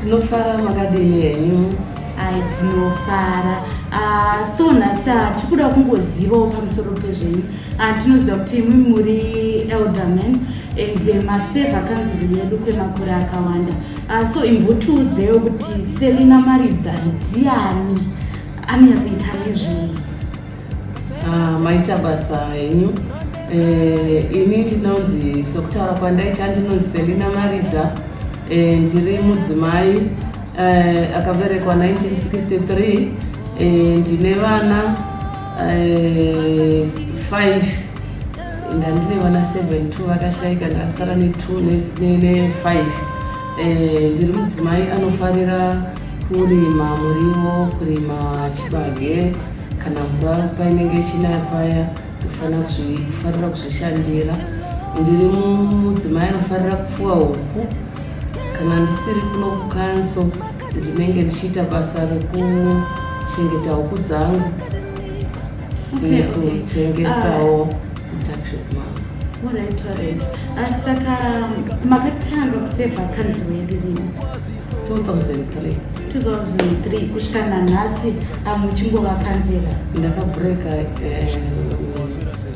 Tinofara makadini henyu. Ai tinofara. Ah, so nhasi hatikuda kungozivawo pamusoro pezvenyu. Ah, tinoziva kuti imwi muri elderman and eh, maseva kanzuru yedu kwemakore akawanda. Ah, so imbotiudzewo kuti Selina Maridza ndiani? Anonyatsoita nezvei? Ah, maita basa henyu eh, ini ndinonzi sokutaura kwandaita ndinonzi selina maridza eh, ndiri mudzimai eh, akaberekwa 1963 ndine vana 5 ndandine vana 7 t vakashaika ndasara ne 2 ne 5 ndiri mudzimai anofarira Kurima muriwo, kurima chibage kana mvura painenge ichinaya paya kufanira kuzvishandira. Ndiri mudzimai anofanira kupfuwa huku kana ndisiri kuno kukanso ndinenge ndichiita basa rekuchengeta huku dzangu nekutengesawo mutakshop mangu. Saka makatanga kuseva kanzi wedu lini? 2003 2003 kusvika nanhasi amuchingova kanzira ndakabreka uh, eh,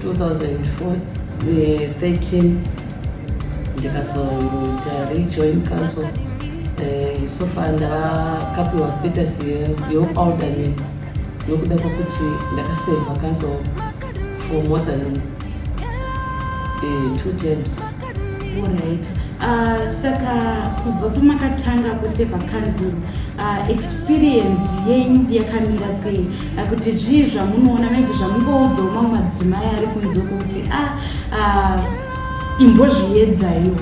2013 eh, ndikazoita rejoin council uh, so far ndakapiwa status yealderman nokuda kwekuti ndakaseva council for more than uh, two terms Ah, saka kubva pamakatanga kuse pakanzuru ah, experience yenyu yakamira sei ah, kuti zvii zvamunoona maybe zvamungoudzawo mamwe madzimai ari kunze kuti a imbozviedzaiwo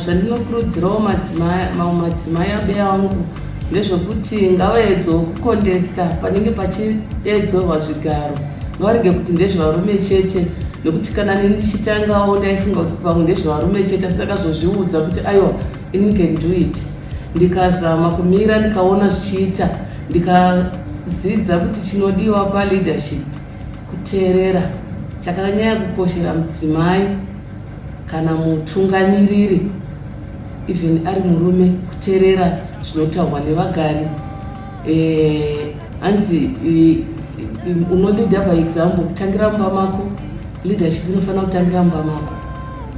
zvandinokurudzirawo mamwe madzimai abe angu ndezvekuti ngavaedzawo kukondesta panenge pachiedzorwa zvigaro Ngavarege kuti ndezvevarume chete nekuti kana neni ndichitangawo ndaifunga kuti pamwe ndezvevarume chete asi ndakazozviudza kuti aiwa ini can do it ndikazama kumira ndikaona zvichiita ndikadzidza kuti chinodiwa paleadership kuteerera chakanyaya kukoshera mudzimai kana mutungamiriri even ari murume kuteerera zvinotaurwa nevagari eh, hanzi unolida by example kutangira mumba mako leadership inofanira kutangira mumba mako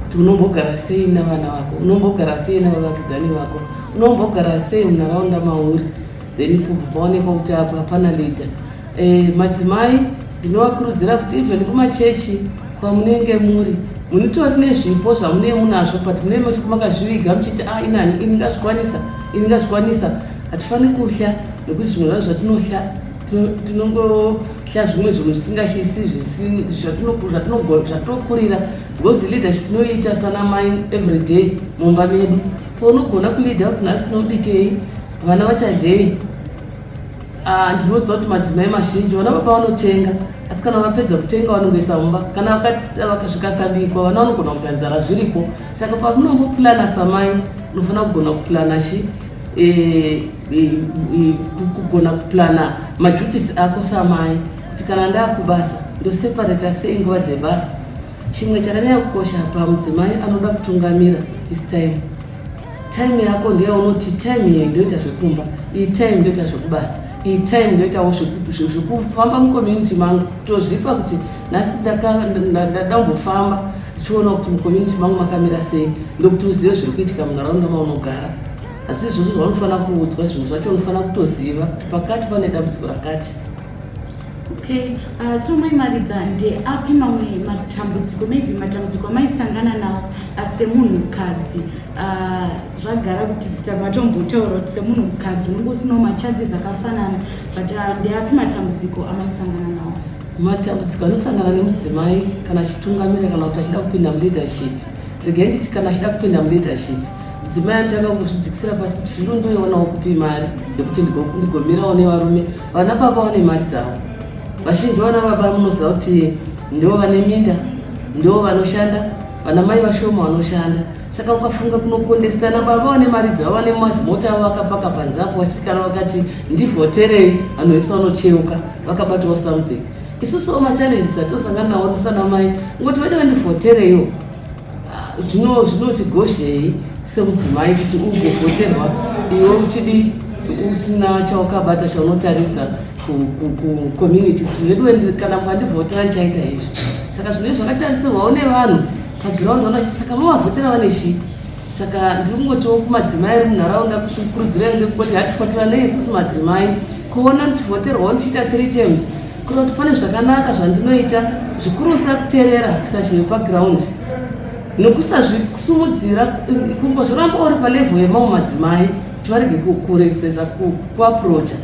kuti unombogara sei navana vako unombogara sei navavakidzani vako unombogara sei munharaunda mauri then kubva paonekwa kuti apa hapana leader Eh, madzimai ndinovakurudzira kuti even kumachechi kwamunenge muri munitori nezvipo zvamunee munazvo but munee makazviviga muchiti a ah, inani ini ndazvikwanisa ini ndazvikwanisa hatifaniri kuhla nekuti zvimwe zvazvo zvatinohla tinongohla zvimwe zvinhu zvisingahlisi zvatinokurira because leadership tinoiita sana mai everyday mumba medu pounogona kuleada kuti nhasi tinobikei vana vachadlei Ah, ndinoziva kuti madzimai mazhinji vana baba vanotenga asi kana vapedza kutenga vanongoisa mumba kana zvikasabikwa vana vanogona kuti anzara zviripo saka pamunombopulana samai unofanira kugona kupulana chi eh, eh, eh, kugona kupulana maduties ako samai kuti kana ndaakubasa ndoseparata sei nguva dzebasa chimwe chakanyanya kukosha pamudzimai anoda kutungamira this time time yako ndeyaunoti time iyi ndoita zvekumba iyi time ndoita zvekubasa iyi time ndoitawo zvekufamba mucommunity mangu tozvipa kuti nhasi ndadambofamba tichiona kuti mucommunity mangu makamira sei ndokuti uzive zviri kuitika munharaunda maunogara asi izvozvo zvaunofanira kuudzwa zvinhu zvacho unofanira kutoziva kuti pakati pane dambudziko rakati Okay, uh, so mai Maridza ndeapi mamwe matambudziko maybe matambudziko amaisangana nawo uh, semunhukadzi uh, zvagara kuti matombotaura kuti semunhukadzi munenge usinawo macharges akafanana but uh, ndeapi matambudziko amaisangana nawo matambudziko anosangana nemudzimai kana achitungamira kana kuti achida kupinda muleadership regai nditi kana achida kupinda muleadership mudzimai anotanga kuzvidzikisira pasi kuti zvino ndoionawo kupi mari yekuti ndigomirawo nevarume Vana baba vane mari dzavo. Vazhinji vana baba munoziva kuti ndivo vane minda, ndivo vanoshanda, vana mai vashoma vanoshanda. Saka ukafunga kunokondesitana baba vane mari dzavo vane mazimota avo vakapaka panze apo vachitikana vakati ndivhoterei vanhu vese vanocheuka vakabatwa something. Isusu machallenges atosangana nawo tisana mai ngoti vede vandivhotereiwo zvino zvinotigoshei semudzimai kuti ugovhoterwa iwe uchidi usina chawakabata chaunotaridza kucommunity kuti veduwe kana mukandivhotera ndichaita izvi saka zvine zvakatarisirwawo nevanhu paground vana kuti saka mavavhotera vane chii saka ndiri kungotiwo kumadzimai ari munharaunda kukurudzira ende kuti hatifotera nei isusu madzimai kuona ndichivhoterwawo ndichiita three terms Kuda kuti pane zvakanaka zvandinoita zvikurusa kuterera kusazhinji paground nokusazvisimudzira kumbo zvoramba uri palevel yemamwe madzimai kuti varege kuresesa kuaprocha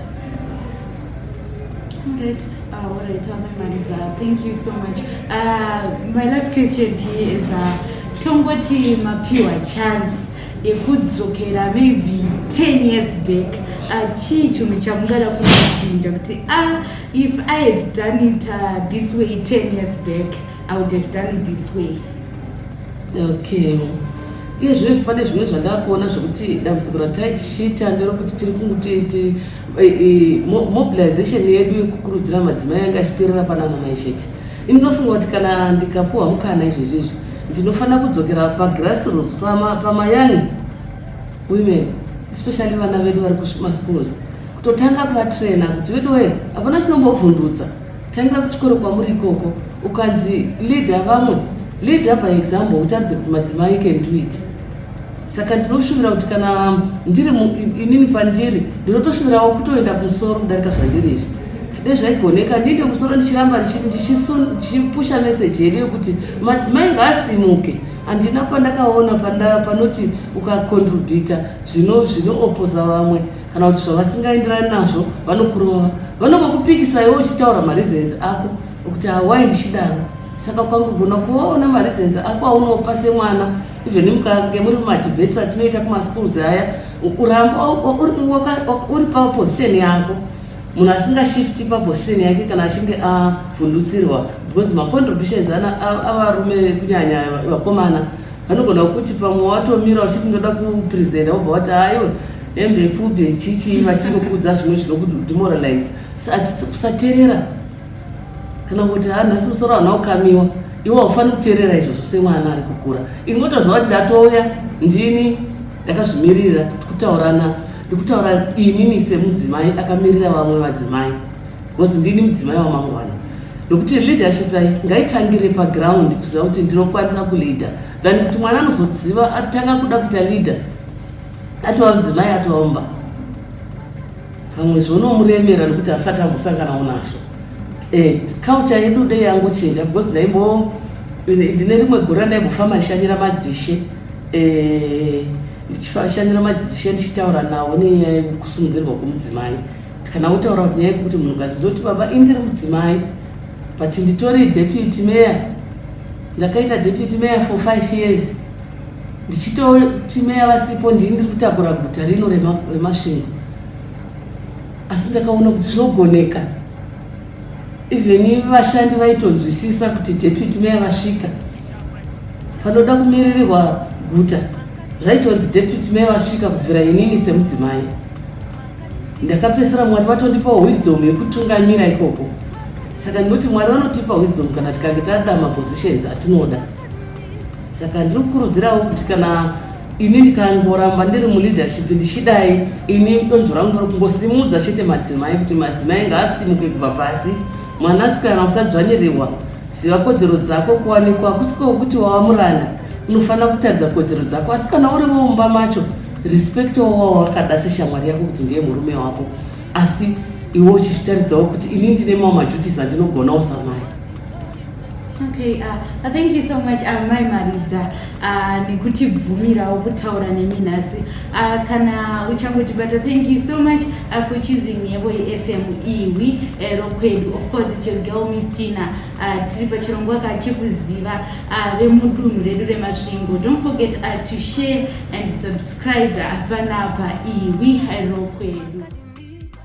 tongoti mapiwa chance yekudzokera maybe 10 years back achii chinhu chamungada kunochinja kuti a ah, if i had done it uh, this way 10 years back i would have done it this way okay iye zvino zvipane zvimwe zvandakuona zvekuti dambudziko rataishita nderokuti tiri kungutiiti eh, eh, mobilization yedu yekukurudzira madzimai yanga ichiperera panamamai chete Ini ndinofunga kuti kana ndikapuwa mukana izvezvi izvi ndinofanira kudzokera pagrassroots pamayani pama women especially vana vedu vari kumaschools kutotanga kuvatraina kuti vedu wee hapana chinombovhundutsa tangira kuchikoro kwamuri ikoko ukanzi leader vamwe leader by example utaridze kuti madzimai can do it saka ndinoshuvira kuti kana ndiri inini pandiri ndinotoshuvirawo kutoenda kumusoro kudarika zvandiri izvi dai zvaigoneka ndiende kumusoro ndichiramba ndichipusha meseji yedu yekuti madzimai ngaasimuke handina pandakaona panoti ukakontribhita zvinoopposa vamwe kana kuti zvavasingaenderani nazvo vanokurova vanongokupikisaiwo uchitaura mareasons ako okuti awai ndichidaro saka ukangogona kuvaona mareasons ako aunopa semwana even mukange muri mumadebate atinoita kumaschools aya ukuramba uri paposition yako munhu asingashifti paposition yake kana achinge avhundusirwa because macontributions avarume vekunyanya vakomana vanogona kuti pamwe watomira uchiti ndoda kupresenta wobva wati ayo hembe pfupi chichi vachingokudza zvimwe zvinokudemoralize kusaterera kana kuti ha nhasi musoro hana kukamiwa iwe haufaniri kuteerera izvozvo semwana ari kukura ingotozva kuti ndatouya ndini ndakazvimirira tikutaurana ndikutaura inini semudzimai akamirira vamwe vadzimai bcause ndini mudzimai wamangwana nokuti leadership rai ngaitangire paground kuziva kuti ndinokwanisa kuleader than kuti mwana anozoziva atanga kuda kuita leader atova mudzimai atoomba pamwe zvonomuremera nekuti asati ambosanganawo nazvo eh, culture yedu dei yangochinja because ndaimbo ndine rimwe gore randaimbofamba ndishanyira madzishe eh, ndichishanyira madzishe ndichitaura nawo nenyaya yekusungirirwa kwemudzimai kana wotaura kuti nyaya yekuti munhukadzi ndoti baba indiri mudzimai but nditori deputy mayor ndakaita deputy mayor for five years ndichitoti meya vasipo ndini ndiri kutakura guta rino remasvingo asi ndakaona kuti zvinogoneka even vashandi vaitonzwisisa kuti deputy meya vasvika panoda kumiririrwa guta zvaitonzi deputy meya vasvika kubvira inini semudzimai ndakapesera mwari vatondipa wisdom yekutungamira ikoko saka ndinoti mwari vanotipa wisdom kana tikange tada mapositions atinoda saka ndiri kukurudzirawo kuti kana ini ndikangoramba ndiri muleadership ndichidai ini donzvo rangu ndiri kungosimudza chete madzimai kuti madzimai ngaasimuke kubva pasi mwanasikana usadzvanyirirwa ziva kodzero dzako kuwanikwa kusiko kuti wava muranda unofanira kutadza kodzero dzako asi kana uri mumba macho respect wawa wakada seshamwari yako kuti ndiye murume wako asi iwe uchizvitaridzawo kuti ini ndine mamwe maduties andinogonawo samai Okay, uh, uh, thank you so much uh, mai Maridza uh, nekutibvumirawo kutaura nemi nhasi uh, kana uchangotibata thank you so much uh, for choosing yebo yefm iwi uh, rokwedu of course it's your girl miss tina uh, tiri pachirongwa ka chekuziva uh, vemudunhu redu remasvingo don't forget uh, to share and subscribe uh, panapa iwi uh, rokwedu